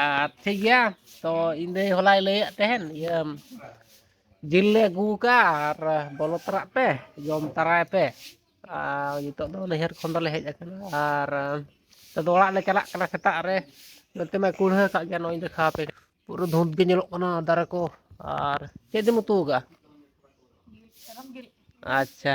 ᱟᱨ ᱴᱷᱤᱠ ᱜᱮᱭᱟ ᱛᱚ ᱤᱧ ᱫᱟᱹᱭ ᱦᱚᱞᱟᱭ ᱞᱟᱹᱭᱮᱫ ᱛᱟᱦᱮᱱ ᱤᱭᱟᱹ ᱡᱤᱞ ᱞᱮ ᱟᱹᱜᱩ ᱟᱠᱟᱫᱼᱟ ᱟᱨ ᱵᱚᱞᱚ ᱛᱚᱨᱟᱜ ᱯᱮ ᱡᱚᱢ ᱛᱟᱨᱟᱭ ᱯᱮ ᱟᱨ ᱱᱤᱛᱚᱜ ᱫᱚ ᱱᱟᱹᱭᱦᱟᱹᱨ ᱠᱷᱚᱱ ᱫᱚᱞᱮ ᱦᱮᱡ ᱟᱠᱟᱱᱟ ᱟᱨ ᱱᱤᱛᱚᱜ ᱫᱚ ᱚᱲᱟᱜ ᱞᱮ ᱪᱟᱞᱟᱜ ᱠᱟᱱᱟ ᱥᱮᱛᱟᱜ ᱨᱮ ᱱᱚᱛᱮ ᱢᱟᱭ ᱠᱩᱲᱦᱟᱹ ᱟᱠᱟᱫ ᱜᱮᱭᱟ ᱱᱚᱜᱼᱚᱭ ᱫᱮᱠᱷᱟᱣ ᱟᱯᱮ ᱠᱟᱱᱟ ᱯᱩᱨᱟᱹ ᱫᱷᱩᱸᱛ ᱜᱮ ᱧᱮᱞᱚᱜ ᱠᱟᱱᱟ ᱫᱟᱨᱮ ᱠᱚ ᱟᱨ ᱪᱮᱫ ᱮᱢ ᱩᱛᱩ ᱟᱠᱟᱫᱼᱟ ᱟᱪᱪᱷᱟ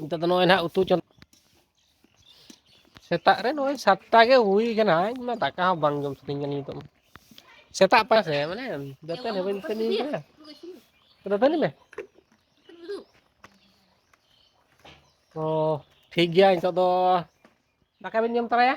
ᱱᱤᱛᱚᱜ ᱫᱚ ᱱᱚᱜᱼᱚᱭ ᱱᱟᱦᱟᱜ ᱩᱛᱩ ᱪᱚᱸᱫᱟ ᱥᱮᱛᱟᱜ ᱨᱮ ᱱᱚᱜᱼᱚᱭ ᱥᱟᱛᱴᱟ ᱜᱮ ᱦᱩᱭ ᱠᱟᱱᱟ ᱤᱧ ᱢᱟ ᱫᱟᱠᱟ ᱦᱚᱸ ᱵᱟᱝ ᱡᱚᱢ ᱥᱟᱹᱱᱟᱹᱧ ᱠᱟᱱᱟ ᱱᱤᱛᱚᱜ ᱢᱟ ᱥᱮᱛᱟᱜ ᱯᱟᱭ ᱥᱮ ᱢᱟᱱᱮ ᱫᱟᱹᱛᱟᱹᱱᱤ ᱵᱟᱹᱧ ᱫᱟᱹᱛᱟᱹᱱᱤ ᱠᱟᱱᱟ ᱫᱟᱹᱛᱟᱹᱱᱤ ᱢᱮ ᱛᱚ ᱴᱷᱤᱠ ᱜᱮᱭᱟ ᱱᱤᱛᱚᱜ ᱫᱚ ᱫᱟᱠᱟ ᱵᱮᱱ ᱡᱚᱢ ᱛᱚᱨᱟᱭᱟ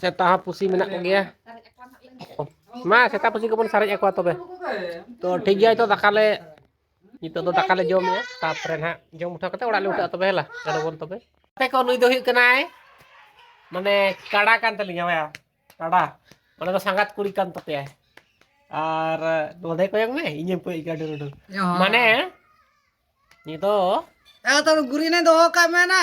ᱥᱮᱛᱟ ᱦᱚᱸ ᱯᱩᱥᱤ ᱢᱮᱱᱟᱜ ᱠᱚᱜᱮᱭᱟ ᱢᱟ ᱥᱮᱛᱟ ᱯᱩᱥᱤ ᱠᱚᱵᱚᱱ ᱥᱟᱨᱮᱡ ᱟᱠᱚᱣᱟ ᱛᱚᱵᱮ ᱛᱚ ᱴᱷᱤᱠ ᱜᱮᱭᱟ ᱱᱤᱛᱚᱜ ᱫᱟᱠᱟ ᱞᱮ ᱱᱤᱛᱚᱜ ᱫᱚ ᱫᱟᱠᱟ ᱞᱮ ᱡᱚᱢᱮᱜᱼᱟ ᱛᱟᱯᱚᱨᱮ ᱱᱟᱦᱟᱜ ᱡᱚᱢ ᱩᱴᱷᱟᱹᱣ ᱠᱟᱛᱮ ᱚᱲᱟᱜ ᱞᱮ ᱩᱴᱷᱟᱹᱜᱼᱟ ᱛᱚᱵᱮ ᱦᱮᱞᱟ ᱪᱚᱞᱚ ᱵᱚᱱ ᱛᱚᱵᱮ ᱟᱯᱮ ᱠᱚ ᱱᱩᱭ ᱫᱚ ᱦᱩᱭᱩᱜ ᱠᱟᱱᱟᱭ ᱢᱟᱱᱮ ᱠᱟᱰᱟ ᱠᱟᱱ ᱛᱟᱹᱞᱤᱧᱟ ᱵᱟᱭᱟ ᱠᱟᱰᱟ ᱚᱱᱟ ᱫᱚ ᱥᱟᱸᱜᱟᱛ ᱠᱩᱲᱤ ᱠᱟᱱ ᱛᱟᱯᱮᱭᱟᱭ ᱟᱨ ᱱᱚᱰᱮ ᱠᱚᱭᱚᱝ ᱢᱮ ᱤᱧᱮᱢ ᱠᱚᱭ ᱜᱟᱹᱰᱩ ᱨᱩᱰᱩ ᱢᱟᱱᱮ ᱱᱤᱛᱚᱜ ᱛᱟᱦᱚᱞᱮ ᱜᱩᱨᱤᱱᱮ ᱫᱚᱦᱚ ᱠᱟᱜ ᱢᱮ ᱱᱟ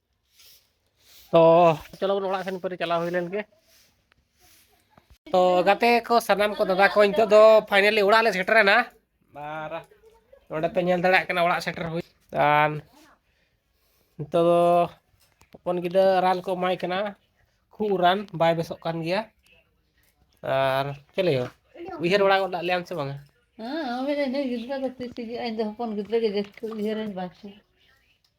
ᱛᱚ ᱪᱚᱞᱚ ᱵᱚᱱ ᱚᱲᱟᱜ ᱥᱮᱱ ᱯᱟᱹᱨᱤ ᱪᱟᱞᱟᱣ ᱦᱩᱭ ᱞᱮᱱ ᱜᱮ ᱛᱚ ᱜᱟᱛᱮ ᱠᱚ ᱥᱟᱱᱟᱢ ᱠᱚ ᱫᱟᱫᱟ ᱠᱚ ᱱᱤᱛᱚᱜ ᱫᱚ ᱯᱷᱟᱭᱱᱟᱞᱤ ᱚᱲᱟᱜ ᱞᱮ ᱥᱮᱴᱮᱨᱮᱱᱟ ᱟᱨ ᱱᱚᱰᱮ ᱯᱮ ᱧᱮᱞ ᱫᱟᱲᱮᱭᱟᱜ ᱠᱟᱱᱟ ᱚᱲᱟᱜ ᱥᱮᱴᱮᱨ ᱦᱩᱭ ᱟᱨ ᱱᱤᱛᱚᱜ ᱫᱚ ᱦᱚᱯᱚᱱ ᱜᱤᱫᱽᱨᱟᱹ ᱨᱟᱱ ᱠᱚ ᱮᱢᱟᱭ ᱠᱟᱱᱟ ᱠᱷᱩᱜ ᱨᱟᱱ ᱵᱟᱭ ᱵᱮᱥᱚᱜ ᱠᱟᱱ ᱜᱮᱭᱟ ᱟᱨ ᱪᱮᱫ ᱞᱟᱹᱭ ᱩᱭᱦᱟᱹᱨ ᱵᱟᱲᱟ ᱜᱚᱫ ᱞᱮᱭᱟᱢ ᱥᱮ ᱵᱟᱝᱟ ᱦᱮᱸ ᱜᱤᱫᱽᱨᱟᱹ ᱫᱚ ᱛᱤᱥ ᱦᱤᱡᱩᱜᱼᱟ ᱤᱧ ᱫᱚ ᱦᱚᱯᱚᱱ ᱜᱤᱫᱽᱨᱟᱹ ᱜᱮ ᱡᱟᱹᱥᱛᱤ ᱩᱭᱦᱟᱹᱨᱟᱹᱧ ᱵᱟᱝ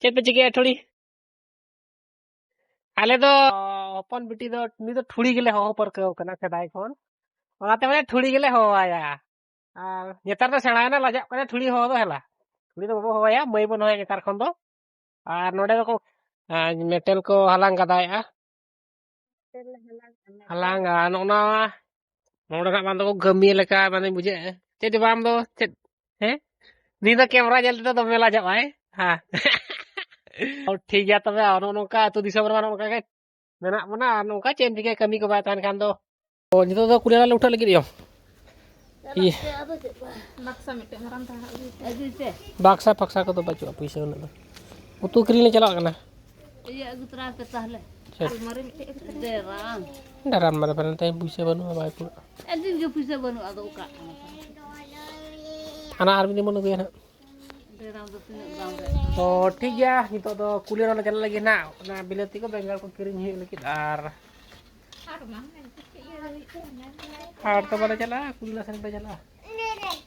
ᱪᱮᱫ ᱯᱮ ᱪᱤᱠᱟᱹᱭᱟ ᱴᱷᱩᱲᱤ ᱟᱞᱮ ᱫᱚ ᱦᱚᱯᱚᱱ ᱵᱤᱴᱤ ᱫᱚ ᱩᱱᱤ ᱫᱚ ᱴᱷᱩᱲᱤ ᱜᱮᱞᱮ ᱦᱚᱦᱚ ᱯᱟᱹᱨᱠᱟᱹᱣ ᱠᱟᱱᱟ ᱥᱮᱫᱟᱭ ᱠᱷᱚᱱ ᱚᱱᱟᱛᱮ ᱢᱟᱱᱮ ᱴᱷᱩᱲᱤ ᱜᱮᱞᱮ ᱦᱚᱦᱚᱣᱟᱭᱟ ᱟᱨ ᱱᱮᱛᱟᱨ ᱫᱚ ᱥᱮᱬᱟᱭᱮᱱᱟ ᱞᱟᱡᱟᱜ ᱠᱟᱱᱟ ᱴᱷᱩᱲᱤ ᱦᱚᱦᱚ ᱫᱚ ᱦᱮᱞᱟ ᱴᱷᱩᱲᱤ ᱫᱚ ᱵᱟᱵᱚ ᱦᱚᱦᱚᱭᱟ ᱢᱟᱹᱭ ᱵᱚᱱ ᱦᱚᱦᱚᱭᱟ ᱱᱮᱛᱟᱨ ᱠᱷᱚᱱ ᱫᱚ ᱟᱨ ᱱᱚᱰᱮ ᱫᱚᱠᱚ ᱢᱮᱴᱮᱞ ᱠᱚ ᱦᱟᱞᱟᱝ ᱜᱟᱫᱟᱭᱮᱜᱼᱟ ᱦᱟᱞᱟᱝ ᱟ ᱱᱚᱜᱼᱱᱟ ᱱᱚᱰᱮ ᱱᱟᱜ ᱵᱟᱝ ᱫᱚ ᱠᱟᱹᱢᱤ ᱞᱮᱠᱟ ᱢᱟᱱᱮ ᱵᱩᱡᱷᱟᱹᱜᱼᱟ ᱪᱮᱫ ᱡᱮ ᱵᱟᱝ ᱫᱚ ᱪᱮᱫ ᱦᱮᱸ ᱱᱤᱭ ᱫᱚ ᱠᱮᱢᱨᱟ ᱧᱮᱞ ᱛᱮᱫᱚ ᱫᱚᱢᱮ ᱞᱟᱡᱟᱜ ᱟᱭ ᱦᱮᱸ ᱴᱷᱤᱠ ᱜᱮᱭᱟ ᱛᱚᱵᱮ ᱱᱚᱜᱼᱚ ᱱᱚᱝᱠᱟ ᱟᱹᱛᱩ ᱫᱤᱥᱚᱢ ᱨᱮᱢᱟ ᱱᱚᱝᱠᱟ ᱜᱮ ᱢᱮᱱᱟᱜ ᱵᱚᱱᱟ ᱟᱨ ᱱᱚᱝᱠᱟ ᱪᱮᱫ ᱮᱢ ᱪᱤᱠᱟᱹᱭᱟ ᱠᱟᱹᱢᱤ ᱠᱚ ᱵᱟᱭ ᱛᱟᱦᱮᱱ ᱠᱷᱟᱱ ᱫᱚ ᱚ ᱱᱤᱛᱚᱜ ᱫᱚ ᱠᱩᱲᱤ ᱞᱮ ᱩᱴᱷᱟᱹᱜ ᱞᱟᱹᱜᱤᱫ ᱤᱭᱟᱹ ᱵᱟᱠᱥᱟ ᱯᱷᱟᱠᱥᱟ ᱠᱚᱫᱚ ᱵᱟᱹᱪᱩᱜᱼᱟ ᱯᱩᱭᱥᱟᱹ ᱩᱱᱟᱹᱜ ᱫᱚ ᱩᱛᱩ ᱠᱤᱨᱤᱧ ᱞᱮ ᱪᱟᱞᱟᱜ ᱠᱟᱱᱟ ᱤᱭᱟᱹ ᱟᱹᱜᱩ ᱛᱚᱨᱟ ᱯᱮ ᱛᱟᱦᱞᱮ ᱟᱞᱢᱟᱨᱤ ᱢᱤᱫᱴᱮᱡ ᱟᱹᱜᱩ ᱛᱚᱨᱟ ᱰᱮᱨᱟᱢ ᱰᱮᱨᱟᱢ ᱢᱟᱨᱮ ᱯᱷᱟᱨᱮ ᱛᱮ ᱯᱩᱭᱥᱟᱹ ᱵᱟᱹᱱᱩᱜᱼᱟ ᱵᱟᱭ ᱠᱩᱲᱟᱹᱜᱼᱟ ᱟᱹᱰᱤ ᱜᱮ ᱯᱩᱭᱥᱟᱹ ᱵᱟᱹᱱᱩᱜᱼᱟ ᱟᱫᱚ ᱚᱠᱟ ᱦᱟᱱᱟ ᱟᱨ ᱢᱤᱫ ᱫᱤᱱ ᱵᱚᱱ ᱟᱹᱜᱩᱭᱟ ᱱᱟᱜ ᱰᱮᱨᱟᱢ ᱫᱚ ᱛᱤᱱᱟᱹᱜ ᱫᱟᱢ ᱨᱮ ᱛᱚ ᱴᱷᱤᱠ ᱜᱮᱭᱟ ᱱᱤᱛᱚᱜ ᱫᱚ ᱠᱩᱞᱤ ᱨᱮᱞᱮ ᱪᱟᱞᱟᱜ ᱞᱟᱹᱜᱤᱫ ᱱᱟᱜ ᱚᱱᱟ ᱵᱤᱞᱟᱹᱛᱤ ᱠᱚ ᱵᱮᱸᱜᱟᱲ ᱠᱚ ᱠᱤᱨᱤᱧ ᱦᱩᱭᱩᱜ ᱞᱟᱹᱜᱤᱫ ᱟᱨ ᱦᱟᱴ ᱫᱚ ᱵᱟᱞᱮ ᱪᱟᱞᱟᱜᱼᱟ ᱠᱩᱞᱤᱞᱟ ᱥᱮᱱ ᱞᱮ ᱪᱟᱞᱟᱜᱼᱟ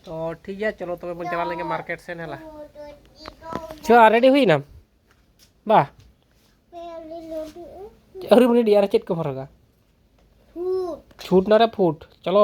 ᱛᱚ ᱴᱷᱤᱠ ᱜᱮᱭᱟ ᱪᱚᱞᱚ ᱛᱚᱵᱮ ᱵᱚᱱ ᱪᱟᱞᱟᱣ ᱞᱮᱱᱜᱮ ᱢᱟᱨᱠᱮᱴ ᱥᱮᱱ ᱦᱮᱞᱟ ᱪᱚ ᱨᱮᱰᱤ ᱦᱩᱭᱱᱟᱢ ᱵᱟ ᱟᱹᱣᱨᱤ ᱵᱚᱱ ᱨᱮᱰᱤ ᱟᱨ ᱪᱮᱫ ᱠᱚ ᱦᱚᱨᱚᱜᱟ ᱪᱷᱩᱴ ᱱᱟᱨᱮ ᱯᱷᱩᱴ ᱪᱚᱞᱚ